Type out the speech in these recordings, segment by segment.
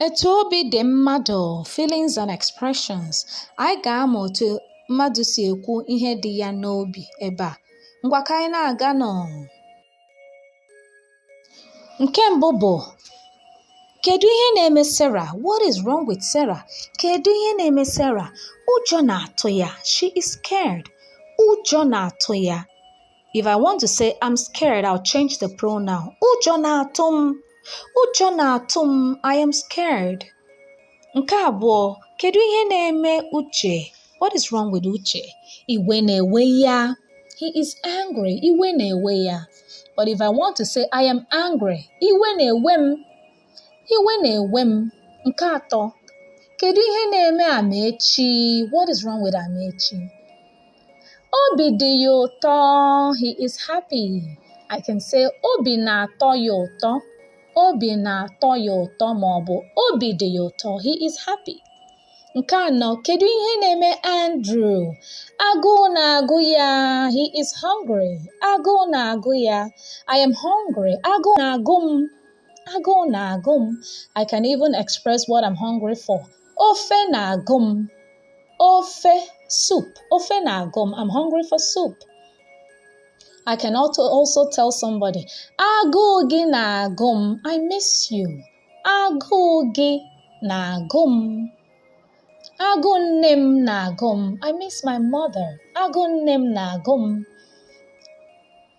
Etu obi dị mmadụ, feelings and expressions. Anyị ga-amụ otu mmadụ si ekwu ihe dị ya n'obi ebe a. Ngwa ka anyị na-aga nụ. Nke mbụ bụ kedu ihe na-eme Sarah? What is wrong with Sarah? Kedu ihe na-eme Sarah? Ụjọ na-atụ ya. She is scared. Ụjọ na-atụ ya. If I want to say I'm scared, I'll change the pronoun. Ụjọ na-atụ m. Ụjọ na-atụ m. I am scared. Nke abụọ, kedu ihe na-eme Uche? What is wrong with Uche? Iwe na-ewe ya. He is angry. Iwe na-ewe ya. But if I want to say I am angry, iwe na-ewe m. Iwe na-ewe m. Nke atọ, kedu ihe na-eme Amaechi? What is wrong with Amaechi? Obi dị ya ụtọ. He is happy. I can say obi na-atọ ya ụtọ. Obi na-atọ ya ụtọ ma ọ bụ obi dị ya ụtọ. He is happy. Nke anọ, kedu ihe na-eme Andrew? Agụụ na-agụ ya. He is hungry. Agụụ na-agụ ya. I am hungry. Agụụ na-agụ m. Agụụ na-agụ m. I can even express what I'm hungry for. Ofe na-agụ m. Ofe soup. Ofe na-agụ m. I'm hungry for soup. I can also also tell somebody, agụụ gị na-agụ m. I miss you. Agụụ gị na-agụ m. Agụụ nne m na-agụ m. I miss my mother. Agụụ nne m na-agụ m.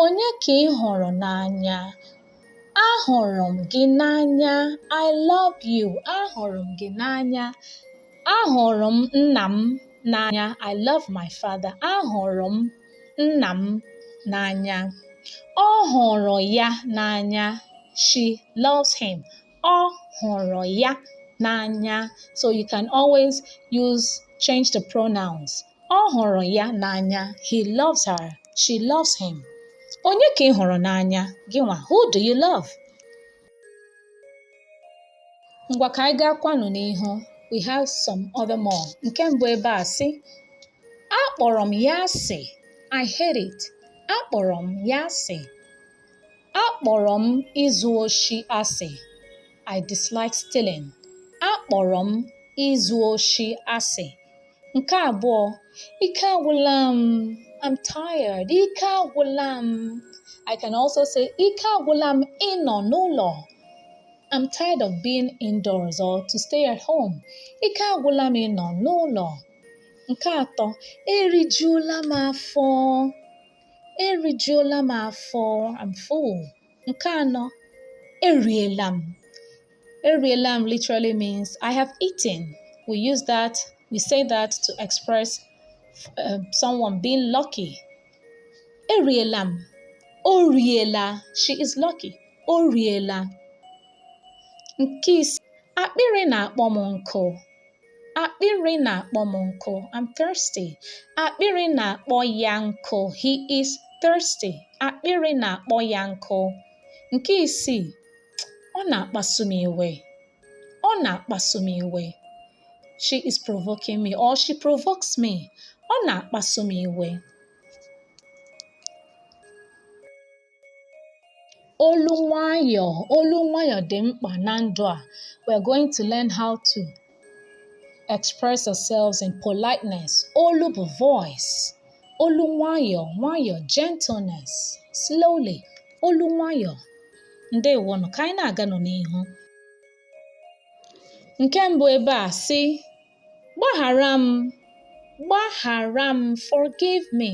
Onye ka ị hụrụ n'anya? Ahụrụ m gị n'anya. I love you. Ahụrụ m gị n'anya. Ahụrụ m nna m n'anya. I love my father. Ahụrụ m nna m n'anya. Ọ hụrụ ya n'anya. She loves him. Ọ hụrụ ya n'anya. So you can always use change the pronouns. Ọ hụrụ ya n'anya. He loves her. She loves him. Onye ka ị hụrụ n'anya? Gị nwa. Who do you love? Ngwa ka anyị gaa kwanụ n'ihu. We have some other more. Nke mbụ ebe a sị, akpọrọ m ya asị. I hate it. Akpọrọ m ya asị. Akpọrọ m izu oshi asị. I dislike stealing. Akpọrọ m izu oshi asị. Nke abụọ, ike agwụla m. I'm tired. Ike agwụla m. I can also say ike agwụla m ịnọ n'ụlọ. I'm tired of being indoors or to stay at home. Ike agwụla m ịnọ n'ụlọ. Nke atọ, erijuola m afọ. erijuola m afọ I'm full nke anọ eriela m eriela m literally means I have eaten we use that we say that to express uh, someone being lucky eriela m o riela she is lucky o riela nke ise akpịrị na-akpọ m nkụ Akpịrị na-akpọ m nkụ. I'm thirsty. Akpịrị na-akpọ ya nkụ. He is thirsty. Akpịrị na-akpọ ya nkụ. Nke isii, ọ na-akpasu m iwe. Ọ na-akpasu m iwe. She is provoking me or she provokes me. Ọ na-akpasu m iwe. Olu nwayọọ, olu nwayọọ dị mkpa na ndụ a. We're going to learn how to express ourselves in politeness. Olu bụ voice. Olu nwayọọ, nwayọọ, gentleness, slowly. Olu nwayọọ. Ndewonụ, ka anyị na-aganụ n'ihu. Nke mbụ ebe a sị Gbaghara m. Gbaghara m. Forgive me.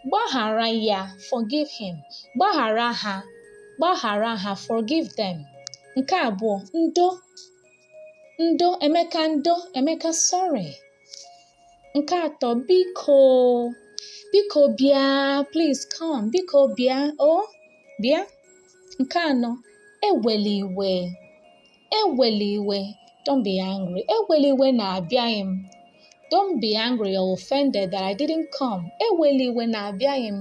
Gbaghara ya. Forgive him. Gbaghara ha. Gbaghara ha. Forgive them. Nke abụọ, ndo. Ndo, Emeka ndo, Emeka sorry. Nke atọ, biko. Biko bịa, please come. Biko bịa, oh, bịa. Nke anọ, ewela iwe. ewela iwe don't be angry ewela iwe na abịaghị m don't be angry or offended that I didn't come ewela iwe na abịaghị m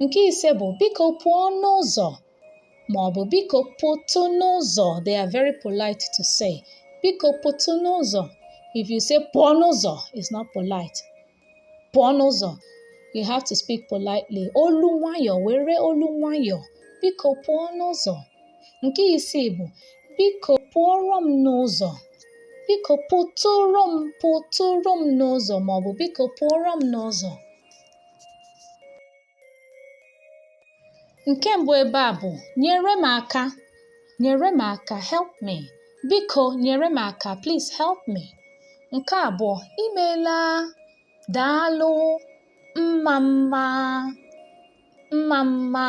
nke ise bụ biko pụọ n'ụzọ ma ọ bụ biko pụtụ n'ụzọ they are very polite to say biko pụtụ n'ụzọ if you say pụọ n'ụzọ it's not polite pụọ n'ụzọ you have to speak politely olu nwayọ were olu nwayọ biko pụọ n'ụzọ nke isii bụ biko pụọrọ m n'ụzọ biko pụtụrụ m n'ụzọ ma ọ bụ biko pụọrọ m n'ụzọ Nke mbụ ebe a bụ nyere m aka, nyere m aka, help me. Biko nyere m aka, please help me. Nke abụọ, imeela, daalụ, mma mma, mma mma.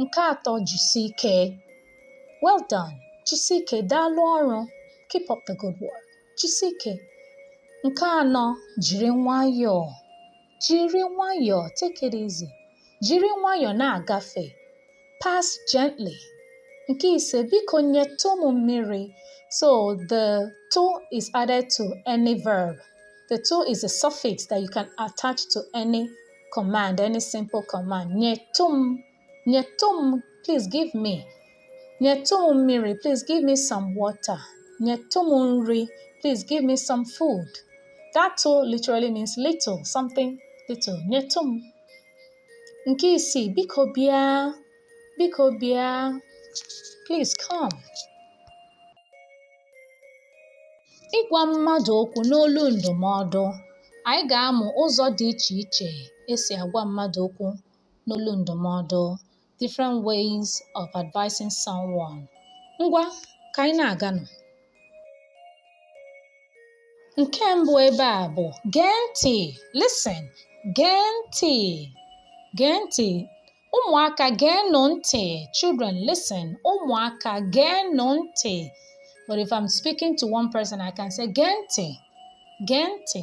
Nke atọ, jisi ike. Well done. Jisi ike, daalụ ọrụ. Keep up the good work. Jisi ike. Nke anọ, jiri nwayọọ. jiri nwayọọ take it easy jiri nwayọọ na-agafe pass gently nke ise biko nyetụ m mmiri so the tụ is added to any verb the tụ is a suffix that you can attach to any command any simple command nyetụ m nyetụ m please give me nyetụ m mmiri please give me some water nyetụ m nri please give me some food that tụ literally means little something little nyetụ m nke isii biko bịa biko bịa please come ịgwa mmadụ okwu n'olu ndụmọdụ anyị ga-amụ ụzọ dị iche iche esi agwa mmadụ okwu n'olu ndụmọdụ different ways of advising someone ngwa ka anyị na-aganụ nke mbụ ebe a bụ gee ntị listen gee ntị gee ntị ụmụaka geenụ ntị children listen ụmụaka geenụ ntị but if i'm speaking to one person i can say gee ntị gee ntị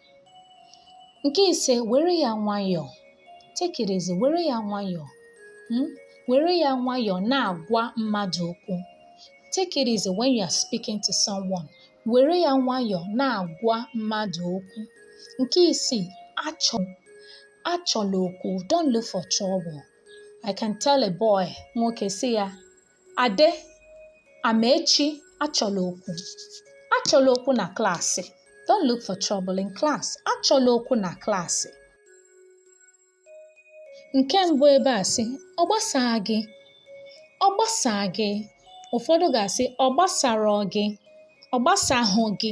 nke ise were ya nwayọọ take it easy were ya nwayọọ hmm? were ya nwayọọ na-agwa mmadụ okwu take it easy when you are speaking to someone were ya nwayọọ na-agwa mmadụ okwu nke isii achọ achọla okwu don't look for trouble i can tell a boy nwoke sị ya Ade, Amaechi achọla okwu. Achọla okwu na klaasị. Don't look for trouble in class. Achọla okwu na klaasị. Nke mbụ ebe a sị, ọ gbasaa gị. Ọ gbasaa gị. Ụfọdụ ga-asị, ọ gbasarọ gị. Ọ gbasahụ gị.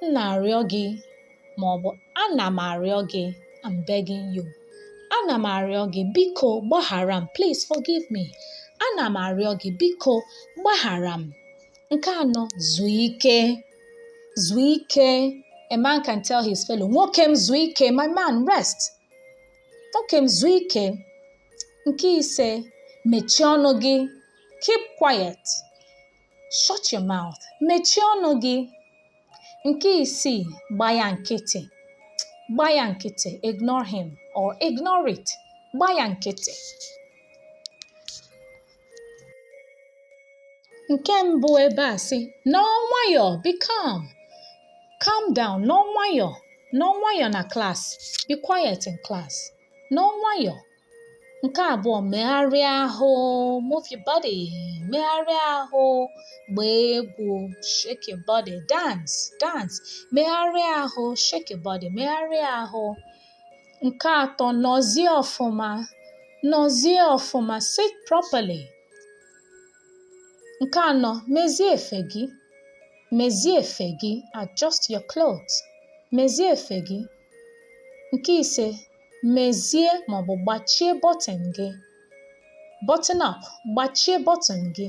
m na-arịọ gị ma ọ bụ ana m arịọ gị I'm begging you ana m arịọ gị biko gbaghara m please forgive me ana m arịọ gị biko gbaghara m nke anọ zuo ike zuo ike a man can tell his fellow nwoke m zuo ike my man rest nwoke m zuo ike nke ise mechie ọnụ gị keep quiet Shut your mouth. Mechie ọnụ gị. Nke isii, gba ya nkịtị. Gba ya nkịtị. Ignore him or ignore it. Gba ya nkịtị. Nke mbụ ebe a sị, nọọ nwayọọ, be calm. Calm down, nọọ nwayọọ. Nọọ nwayọọ na class. Be quiet in class. Nọọ nwayọọ, Nke abụọ, megharịa ahụ, move your body, megharịa ahụ, gbaa egwu, shake your body, dance, dance, megharịa ahụ, shake your body, megharịa ahụ. Nke atọ, nọzie ọfụma, nọzie ọfụma, sit properly. Nke anọ, mezie efe gị, mezie efe gị, adjust your clothes, mezie efe gị. Nke ise, mezie maọbụ gbachie bọtịn gị button up gbachie bọtịn gị